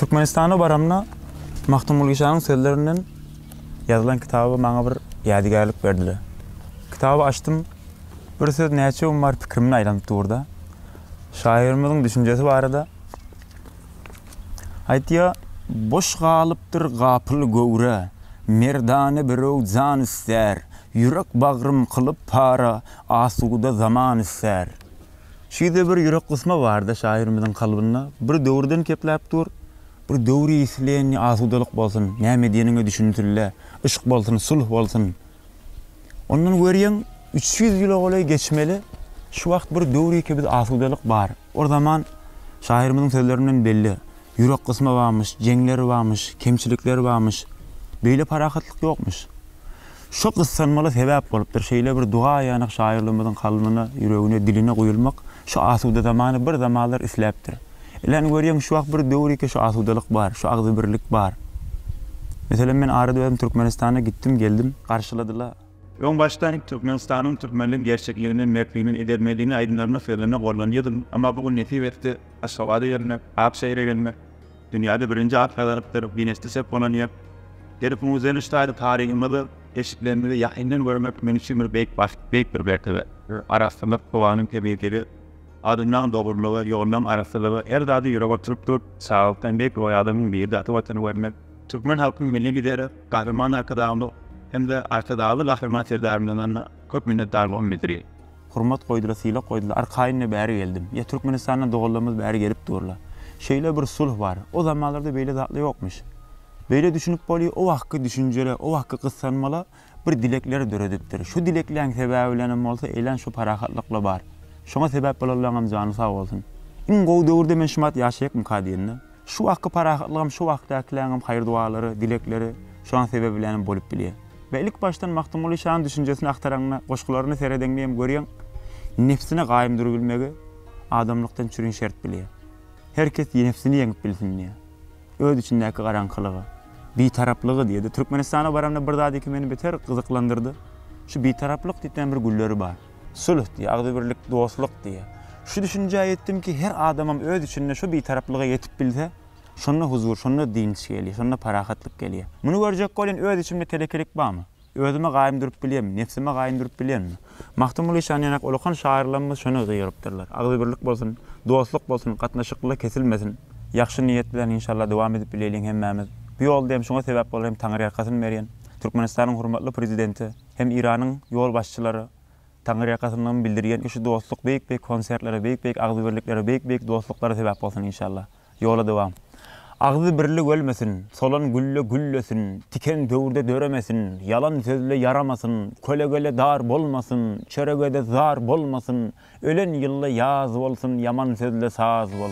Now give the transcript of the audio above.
Türkmenistana baramda Magtymguly şanyň sözlerinden ýazylan kitaby maňa bir ýadygärlik berdiler. Kitaby açdym, bir söz näçe gün bar pikrimden aýlanyp dur-da, şahyrymyzyň düşünjesi barada aýtýar. Boş galypdyr gapyl göwre, merdana birew jan ister, ýürek bagrym kylyp para, asuda zaman ister. Şüýde bir ýürek gysma barda şahyrymyzyň kalbynda bir döwürden kepläp dur, bir döwri isleýänini asudalyk bolsun, näme diýeniňe düşünsünle, yşk bolsun, sulh bolsun. Ondan görýäň üç ýüz ýyla golaý geçmeli, şu wagt bir döwriki biz asudalyk bar. Ol zaman şahyrymyzyň sözlerinden belli, ýürek gysma bamyş, jeňler bamyş, kemçilikler bamyş, beýle parahatlyk ýokmyş. Şu gyssanmala sebäp bolupdyr. Şeýle bir duga aýanok şaýyrlarymyzyň kalbyna, ýüregine, diline guýulmak şu asuda zamany bir zamanlar isläpdir. Ilen görýäň şu wagt bir döwür ýeke şu asudalyk bar, şu agzybirlik bar. Meselem men arada özüm Türkmenistana gitdim, geldim. Garşyladylar. Öň başda Türkmenistanyň türkmenlik gerçekligini, mertligini, edermenligini aýdymlarymda, sözlerimde gollanýardym. Emma bu gün nesip etdi, Aşgabada gelmek, Akşehire gelmek. Dünýäde birinji at gazalypdyr, Ginesde ses bolan ýer. Ýeri bu müzenin ştaýly taryhymyzy, keşplerimizi ýakyndan görmek men üçin bir beýik bagt, beýik bir mertebe. Arassalyk, howanyň temizligi, adamlaň dogrulygy, ýollaň arassalygy her zady ýürege oturyp dur. Saglykdan beýik roý adamyň biri-de ata Watany görmek. Türkmen halkynyň Milli Lideri Gahryman Arkadagymyz hem-de Arkadagly Gahryman Serdarymyzdan köp minnetdarlygymy bildirýän. Hurmat goýdyla sylak goýdyla arkaýynda bäri geldim. Ýa Türkmenistandan doganlarymyz bäri gelip durla. Şeýle bir sulh bar. O zamanlarda beýle zatla ýokmyş. Beýle düşünip bolýa o wagtky düşünjele o wagtky gyssanmala bir dilekler döredipdir. Şu dilekleň sebäbi bilenem bolsa eýlän şu parahatlykla bar. Şoňa sebäp bolanlaňam jany sag bolsun. Iň gowy döwürde men şumat ýaşaýakmyka diýende. Şu wagtky parahatlygam şu wagtdakiläňem haýyr-dualary, dilekleri şoň sebäbi bilenem bolup bilýär. We ilk başdan Magtymguly şanyň düşünjesini agtaraňda, goşgularyny seredeňde hem görýäň, nebsine gaýym durubilmegi adamlykdan çürin şert bilýär. Her kes nebsini ýeňip bilsin diýýär. Öz içindäki garaňkylygy, bitaraplygy diýýär-de. Türkmenistana baramda bir zat iki meni beter gyzyklandyrdy. Şu bitaraplyk diýip näme bir gülleri bar. Sülh diýýär, agzybirlik, dostluk diýýär. Şu düşünjä ýetdim ki, her adamam öz içinde şu bitaraplyga ýetip bilse, şonda huzur, şonda dynç gelýär, şonda parahatlyk gelýär. Muny görjek welin öz içimde telekelik barmy? Özüme gaýym durup bilýärmi? Nebsime gaýym durup bilýänmi? Magtymguly şan ýanak ullakan şahyrlarymyz şony gygyrypdyrlar. Agzybirlik bolsun, dostluk bolsun, gatnaşyklylar kesilmesin. Ýagşy niýet bilen inşallah dowam edip bileýliň hemmämiz. Bu ýolda hem şuňa sebäp bolan hem Taňryýalkasyn berýän Türkmenistanyň hormatly Prezidenti, Hem Iranyň ýolbaşçylary Taňyrýakasyndan bildirýän ki şu dostluk beýik beýik konsertlere beýik beýik agzybirliklere beýik beýik dostluklara sebäp bolsun inşallah. Ýola dowam. Agzy birlik ölmesin, solan gülle güllesin, tiken döwürde döremesin, ýalan sözle ýaramasyn, kölegele dar bolmasyn, çöregede zar bolmasyn, ölen ýylda ýaz bolsun, ýaman sözle saz bolsun.